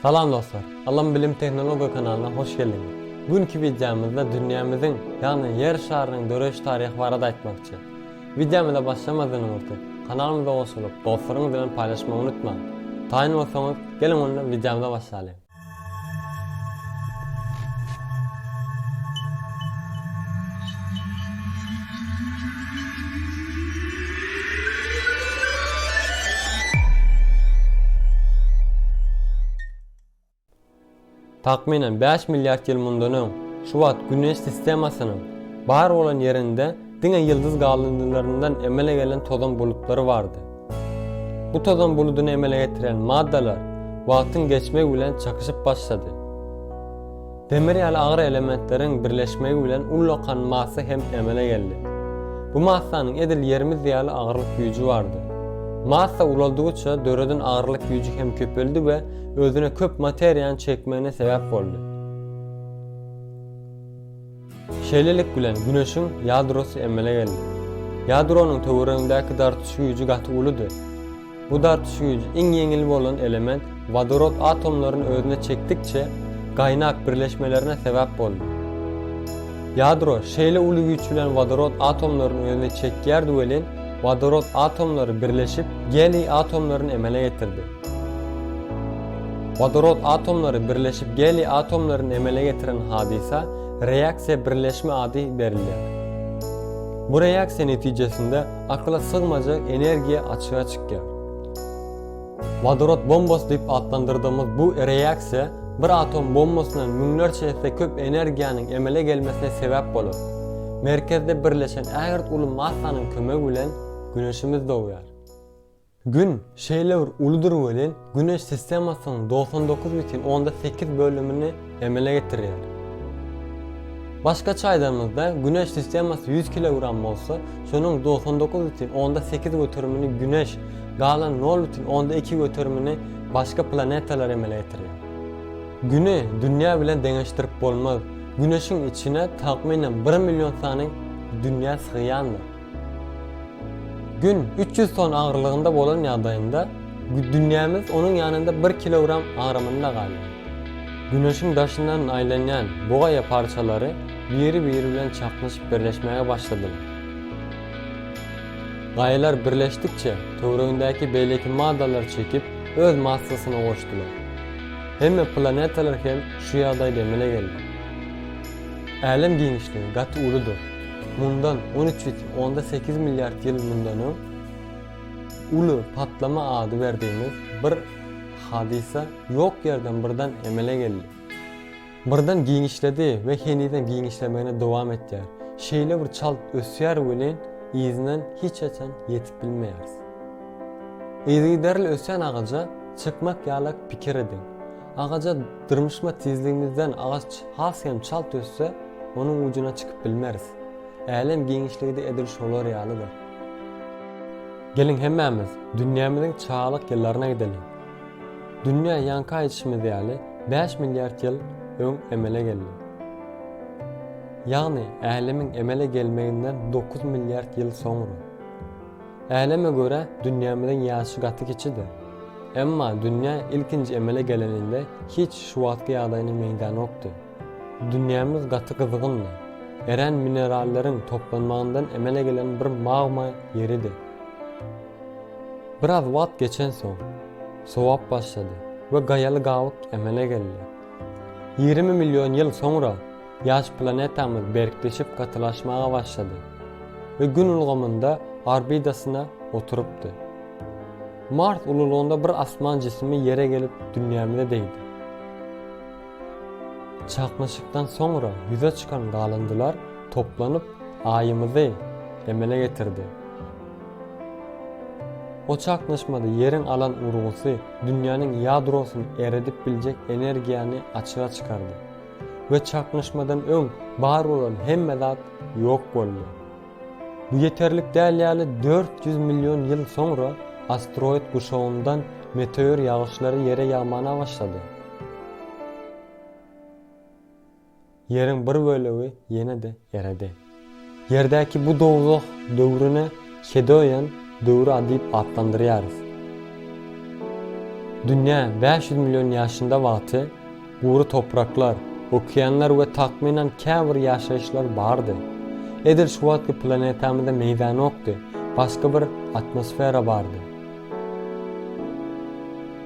Salam dostlar! Ylym bilim tehnologiýa kanalyna hoş geldiňiz! Günki wideomyzda dünýämiziň, ýagny Ýer şarynyň döreýiş taryhy barada aýtmakçy. Wideomyza başlamazdan öňürti, kanalymyza goşulyp, dostlaryňyz bilen paýlaşmagy unutmaň! Taýyn bolsaňyz, geliň onda wideomyza başlalyň! Takmynan bäş milliard ýyl mundan öň, şu wagt Güneş sistemasynyň bar bolan ýerinde diňe ýyldyz galyndylaryndan emele gelen tozan bulutlary bardy. Bu tozan buludyny emele getiren maddalar wagtyň geçmegi bilen çakyşyp başlady. Demir ýaly agyr elementleriň birleşmegi bilen ullakan massa hem emele geldi. Bu massanyň edil ýerimiz ýaly agyrlyk güýji bardy. Massa ulaldygyça döreden agyrlyk güýji hem köpeldi we özüne köp materiýany çekmegine sebäp boldy. Şeýlelik bilen Güneşiň ýadrosy emele geldi. Ýadronyň töweregindäki dartyş güýji gaty uludy. Bu dartyş güýji iň ýeňil bolan element wodorod atomlaryny özüne çekdikçe, gaýnak birleşmelerine sebäp boldy. Ýadro şeýle uly güýç bilen wodorod atomlaryny özüne çekýärdi welin, wodorod atomlary birleşip, geliý atomlaryny emele getirdi. Wodorod atomlary birleşip geliý atomlaryny emele getiren hadysa reaksiýa birleşme ady berilýär. Bu reaksiýa netijesinde Akyla sygmajak energiýa açyga çykýar. Wodorod bombasy diýip atlandyrdygymyz bu reaksiýa bir atom bombasyndan müňlerçe esse köp energiýanyň emele gelmesine sebäp bolar. Merkezde birleşen ägirt uly massanyň kömegi bilen Güneşimiz dogýar. Gün, şeýle bir uludyr welin, Güneş sistemasynyň dogsan dokuz bütin onda sekiz bölümini emele getirýär. Başgaça aýdanymyzda, Güneş sistemasy ýüz kilogram bolsa, şonuň dogsan dokuz bütin onda sekiz göterimini Güneş, galan nol bütin onda iki göterimini başga planetalar emele getirýär. Güni Dünýä bilen deňeşdirip bolmaz. Güneşiň içine takmynan bir million sany dünýä sygýandyr. Gün üç ýüz ton agyrlygynda bolan ýagdaýynda dünýämiz onuň ýanynda bir kilogram agramynda galýar. Güneşiň daşyndan aýlanýan bu gaýa parçalary biri-biri bilen çaknyşyp birleşmäge başladylar. Gaýalar birleşdikçe, töweregindäki beýleki maddalar çekip, öz massasyna goşdular. Hemme planetalar hem şu ýagdaýda emele geldi. Älem giňişligi gaty uludyr. Mundan on üç ýüz onda sekiz milliard ýyl mundan öň Uly patlama ady berdigimiz bir hadysa ýok ýerden birden emele geldi. Birden giňişledi we henizem giňişlemegini dowam etýär. Şeýle bir çalt ösýär welin yzyndan hiç haçan ýetip bilmeýäris. Yzygiderli ösýän agaja çykmak ýalak pikir ediň. Agaja dyrmyşma tizligimizden agaç has hem çalt össe, onuň ujuna çykyp bilmeris. Älem giňişligi-de edil şolar ýalydyr. Geliň hemmämiz dünýämiziň çagalyk ýyllaryna gideliň. Dünýä ýaňky aýdyşymyz ýaly bäş milliard ýyl öň emele geldi. Ýagny, älemiň emele gelmeginden dokuz milliard ýyl soňra. Äleme görä dünýämiziň ýaşy gaty kiçidir. Emma dünýä ilkinji emele geleninde hiç şu wagtky ýagdaýyna meňzänokdy. Dünýämiz gaty gyzgyndy. Erän mineralleriň toplanmagyndan emele gelen bir magma ýeridi. Biraz wagt geçensoň, sowap başlady we gaýaly gabyk emele geldi. Ýigrimi million ýyl soňra Ýaş planetamyz berkleşip gatylaşmaga başlady we Gün ulgamynda orbitasyna oturypdy. Mars ululygynda bir asman jisimi Ýere gelip dünýämize degdi. Çaknyşykdan soňra ýüze çykan galyndylar toplanyp Aýymyzy emele getirdi. O çaknyşmada Ýeriň alan urgusy dünýäniň ýadrosyny eredip biljek energiýany açyga çykardy. we çaknyşmadan öň bar bolan hemme zat ýok boldy. Bu ýeterlik däl ýaly dört ýüz million ýyl soňra asteroid guşagyndan meteor ýagyşlary ýere ýagmana başlady. Ýeriň bir bölegi ýene-de eredi. Ýerdäki bu dowzah döwrüne Hedoýan döwri adyp atlandyrýarys. Dünýä bäş ýüz million ýaşynda wagty gury topraklar, okeanlar we takmynan käbir ýaşaýyşlar bardy. Edil şu wagtky planetamyzda meýdanokdy, başga bir atmosfera bardy.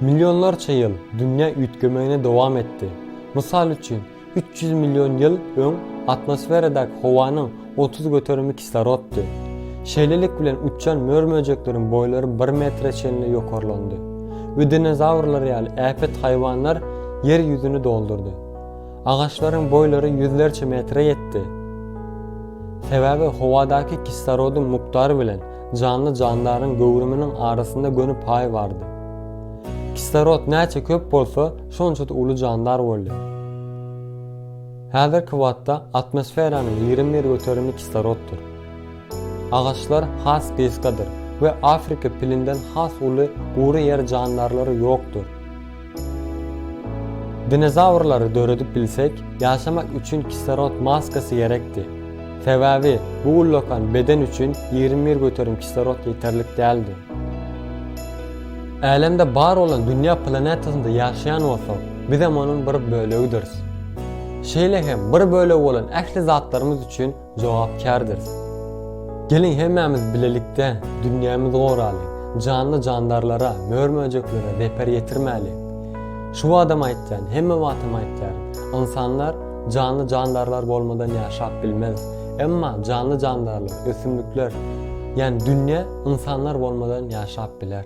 Millionlarça ýyl dünýä üýtgemegini dowam etdi. Mysal üçin, Üç ýüz million ýyl öň atmosferadaky howanyň otuz göterimi kisloroddy. Şeýlelik bilen uçýan mör-möjekleriň boýlary bir metre çenli ýokarlandy we dinozawrlar ýaly äpet haýwanlar Ýer ýüzüni doldurdy. Agaçlaryň boýlary ýüzlerçe metre ýetdi. Sebäbi howadaky kislorodyň mukdary bilen janly-jandaryň göwrüminiň arasynda göni paý bardy. Kislorod näçe köp bolsa, şonça-da uly jandar boldy. Häzirki wagtda atmosferanyň ýigrimi bir göterimi kisloroddyr. Agaçlar has gysgadyr we Afrika pilinden has uly gury ýer jandarlary ýokdur. Dinozawrlary döredip bilsek, ýaşamak üçin kislorod maskasy gerekdi. Sebäbi bu ullakan beden üçin ýigrimi bir göterim kislorod ýeterlik däldi. Älemde bar bolan dünýä planetasynda ýaşaýan bolsak, bizem onuň bir bölegidiris. Şeýle hem bir bölegi bolan ähli zatlarymyz üçin jogapkärdiris. Geliň hemmämiz bilelikde dünýämizi goralyň, janly-jandarlara, mör-möjeklere zeper ýetirmäliň. Şu badam aýtýan, hemme wagtam aýtýaryn, ynsanlar, janly-jandarlar bolmadan ýaşap bilmez. Emma janly-jandarlar, ösümlikler, ýani dünýe ynsanlar bolmadan ýaşap biler.